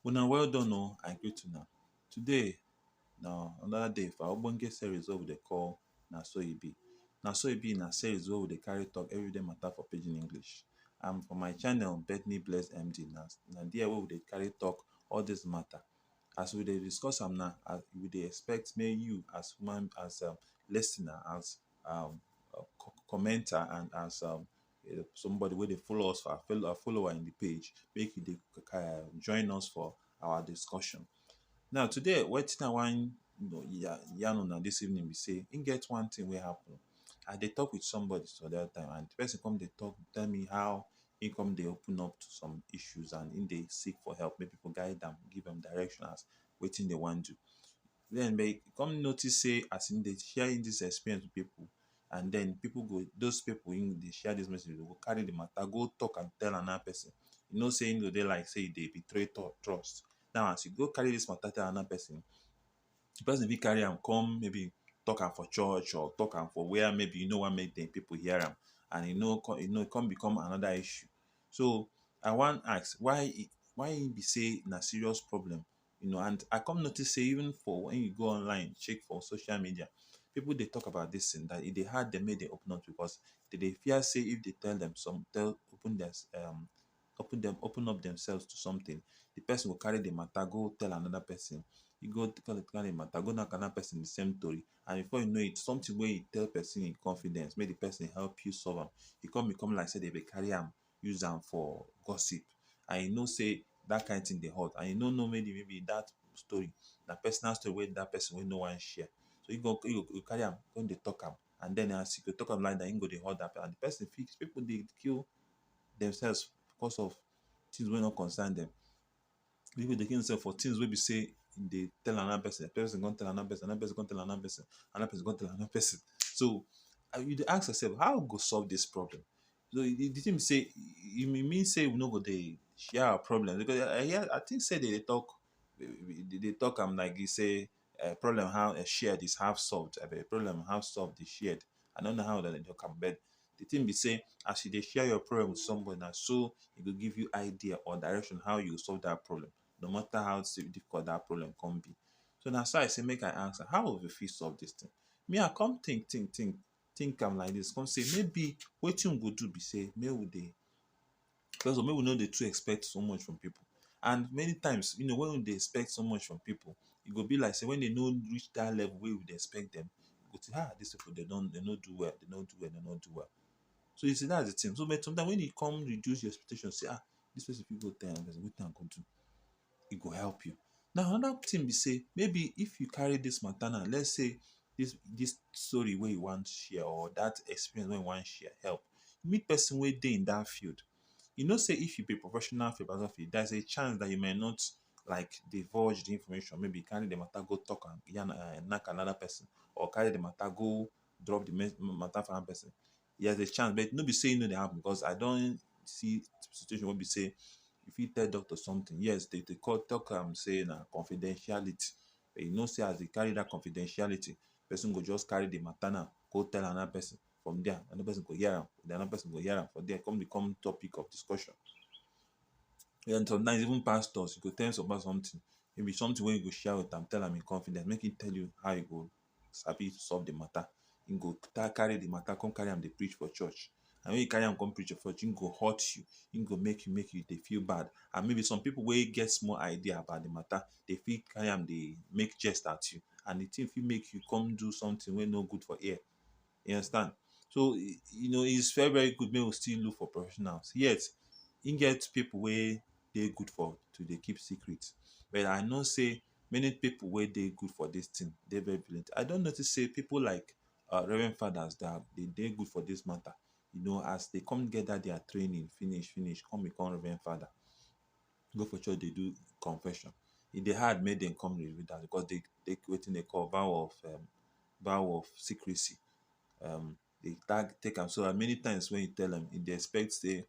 Una well done o, I greet una. Today na another day for our ogbonge series wey we dey call Na So E Be. Na So E Be na series wey we dey carry talk everyday matter for pidgin English. And for my channel Bethany Blessed MD na na there wey we dey carry talk all these matter as we dey discuss am now as we dey expect make you as human as um lis ten er as um commenter and as um somebody wey dey follow us for our follower in the page make you dey um join us for our discussion. Now today wetin I wan yarn una dis evening be sey e get one thing wey happen I dey talk with somebody some other time and the person come dey talk tell me how e come dey open up to some issues and e dey seek for help make people guide am give am direction as wetin dey wan do then but e come notice say as e dey share him this experience with people and then people go those people him dey share this message with go carry the matter go talk and tell another person you know say him go dey like say e dey betray trust now as you go carry this matter tell another person di pesin fit carry am come maybe talk am for church or talk am for where maybe e no wan make pipu hear am and e no come e no come become anoda issue. So, I wan ask why e why e be sey na serious problem? You know and I come notice sey even for wen you go online check for social media, pipu dey talk about dis tin dat e dey hard dem make dem open up to us. Dem dey fear sey if dem tell dem some tell open dia um open dem open up themselves to something the person go carry the matter go tell another person e go tell the matter go knack another person the same tori and before you know it something wey you tell person in confidence make the person help you solve am e come become like say dem dey carry am use am for gossip and you know say that kind thing dey hot and you no know maybe maybe that story na personal story wey that person wey no wan share so you go you go carry am come dey talk am and then as you dey talk am like that e go dey hot that person and the person fit people dey kill demselves because of tins wey no concern dem. Pipu go dey kill demselves for tins wey be sey dem dey tell another pesin, pesin go con tell another pesin, another pesin go con tell another pesin, another pesin go con tell another pesin. So, and you dey ask yoursef how we go solve dis problem? So, e di tin be sey e mean sey we no go dey share our problem becos I hear I think sey de dey talk de dey talk am like dis sey Eh, problem how eh, shared is half solved. I beg, problem half solved is shared. I don't know how that they talk am, but the thing be say, as you dey share your problem with somebody, na so e go give you idea or direction how you go solve that problem, no matter how si- difficult that problem come be. So na so I say make I ask am, how we fit solve this thing? Me, I come think, think, think, think am like this, come say maybe wetin we go do be say make we dey First of all, make we no dey too expect so much from pipu. And many times, you know, wen we dey expect so much from pipu, e go be like sey wen de no reach dat level wey we dey expect dem, we go think um dis pipu de don de no do well, de no do well, de no do well. So, you see dat's the tin. So, but sometimes wen e come reduce your expectation sey um dis pesin fit go tire, wetin i go do? e go help you. Now another thing be sey maybe if you carry dis matter now let's say dis dis story wey you wan share or dat experience wey you wan share help, meet person wey dey in dat field. You know sey if you be professional photography there's a chance dat you might not like divulge de information maybe carry de matter go talk am yarn um knack another person or carry de matter go drop de matter for another person. Yes, there's a chance, but no be say e no dey happen because I don see situation wey be say you fit tell doctor something. Yes, they dey call talk am say na confidentiality. But you know say as they carry that confidentiality, person go just carry the matter now go tell another person. From there, another person go hear am. Then another person go hear am. From there, e come become topic of discussion. Then sometimes even pastors, you go tell some pastor something, maybe something wey you go share with am, tell am in confidence, make him tell you how e go sabi solve the matter, e go carry the matter con carry am dey preach for church. And when e carry am con preach for church, e go hurt you. E go make you make you dey feel bad. And maybe some pipu wey get small idea about the matter, they fit carry am dey make jest at you. And the thing fit make you con do something wey no good for ear. You understand. So, you know it's very very good make we still look for professionals. Yet, e get pipu wey dey good for to dey keep secret. But I know sey Many pipu wey dey good for dis tin dey very brilliant. I don notice sey pipu like um Reverend Fathers dem de dey good for dis mata. You know, as de come get dat dia training finish finish come become Reverend Father, go for church dey do confession, e dey hard make dem come reveal dat becos de take wetin de call vow of um vow of secrecy. um dey tag take am so dat many times wey e tell am e dey expect sey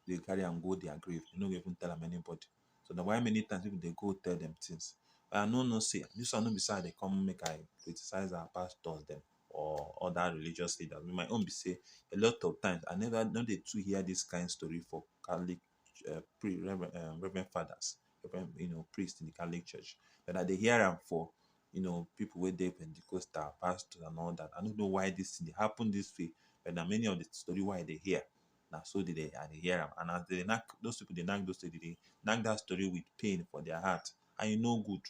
dey go carry am go their grave e no go even tell am anybody so na why many times people dey go tell dem things I no know sey dis one no be sey I dey come make I criticize our pastors dem or other religious leaders my own be sey a lot of times I never I no dey too hear dis kind story for Catholic um pri reverend um reverend fathers, reverend you know priest in the Catholic church but I dey hear am for you know pipu wey dey pentecostal, pastors and all dat. I no know why dis thing dey happen dis way but na many of the story wey I dey hear na so dey dey I dey hear am and as dey dey knack those pipu dey knack those story dey dey knack dat story with pain for their heart and e no good,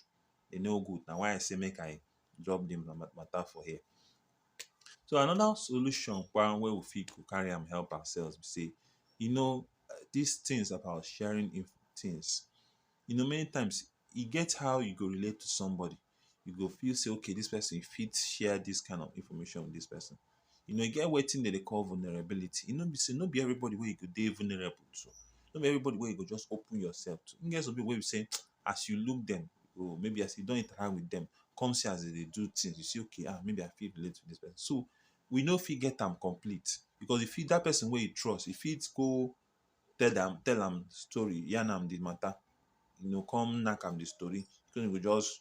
e no good na why I say make I drop the matter for here. So another solution kpa wey we fit go carry am help ourselves be sey you know dis things about sharing inf- things you know many times e get how you go relate to somebody you go feel sey okay dis person fit share dis kind of information with dis person. You know e get wetin dem dey call vulnerability. E no be sey no be everybody wey you go dey vulnerable to. No be everybody wey you go just open yourself to. E get some people wey be sey as you look dem or maybe as you don interact with dem come see as dem dey do things, you say okay um maybe I fit relate to dis person. So we no fit get am complete because you fit dat person wey you trust you fit go tell am tell am story, yarn am de matter, you know come knack am de story, so e go just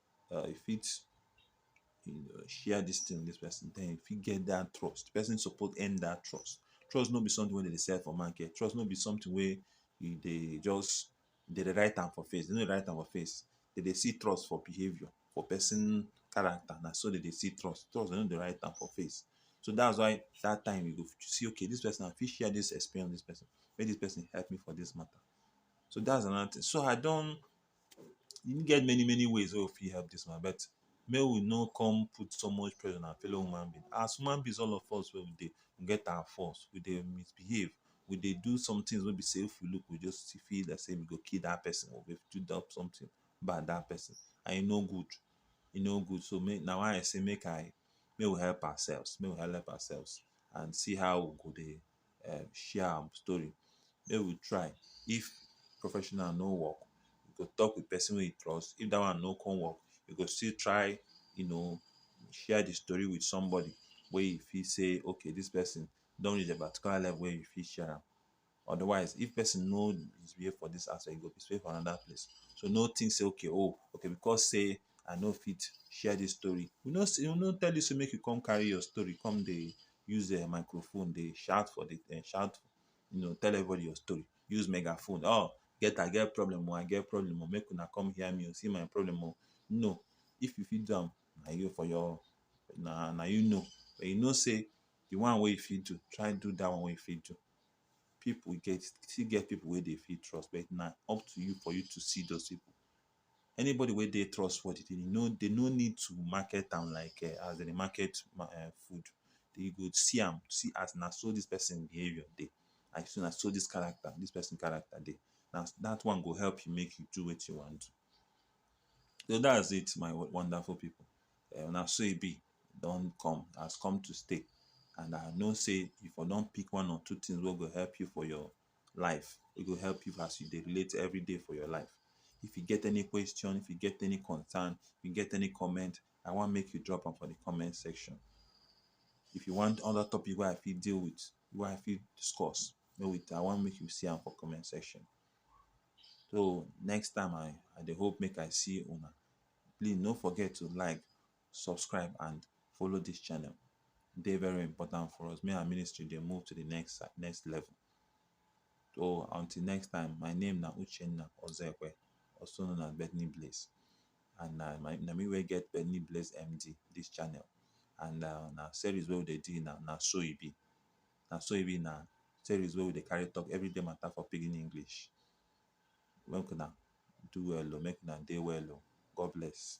um you fit share dis thing with dis person den you fit get dat trust. De person suppose earn dat trust. Trust no be something wey dem dey sell for market. Trust no be something wey you dey just dem dey write am for face. Dem no dey write am for face. Dem dey see trust for behaviour, for person character. Na so dem dey see trust. Trust dem no dey write am for face. So dats why dat time you go see okay dis person I fit share dis experience with dis person. Make dis person help me for dis matter. So dats another thing. So I don e get many many ways wey we fit help dis woman but make we no come put so much pressure on our fellow human being. As human beings all of us wey we dey we get our faults, we dey misbehave, we dey do somethings wey be sey if we look we just dey feel like sey we go kill dat person or we fit do something bad dat person and e no good. E no good so make na why I say make I make we help ourselves, make we help ourselves and see how we go dey um share am story make we try if professional no work we go talk with person wey we trust if that one no come work we go still try you know share the story with somebody wey you fit say okay this person don reach a particular level wey you fit share am otherwise if person no misbehave for this aspect e go misbehave for another place so no think say okay oh okay because say I no fit share dis story. We no say we no tell you say make you come carry your story come dey use um microphone dey shout for the um shout you know tell everybody your story. Use megaphone um get I get problem oh I get problem oh make una come hear me oh see my problem oh. No. If you fit do am na you for your na na you know. But you know sey the one wey you fit do, try do dat one wey you fit do. Pipu get still get pipu wey dey fit trust but na up to you for you to see dos pipu. anybody wey dey trustworthy dey no dey no need to market am like um as dem dey market um food you go see am see as na so this person behaviour dey and see na so this character this person character dey na that one go help you make you do wetin you wan do so that's it my wonderful people um na so e be e don come has come to stay and I know sey you for don pick one or two things wey go help you for your life e go help you as you dey relate everyday for your life if you get any question if you get any concern if you get any comment i wan make you drop am for the comment section if you want other topic wey i fit deal with wey i fit discuss make we i wan make you see am for comment section so next time i i dey hope make i see una please no forget to like subscribe and follow this channel e dey very important for us make our ministry dey move to the next si- next level so until next time my name na uchenna ozekwe also known as bethany blaze and na my na me wey get bethany blaze md this channel and uh, na series wey we dey do na na so e be na so e be na series wey we dey carry talk everyday matter for pidgin english Make una do well oh, make una dey well oh. God bless.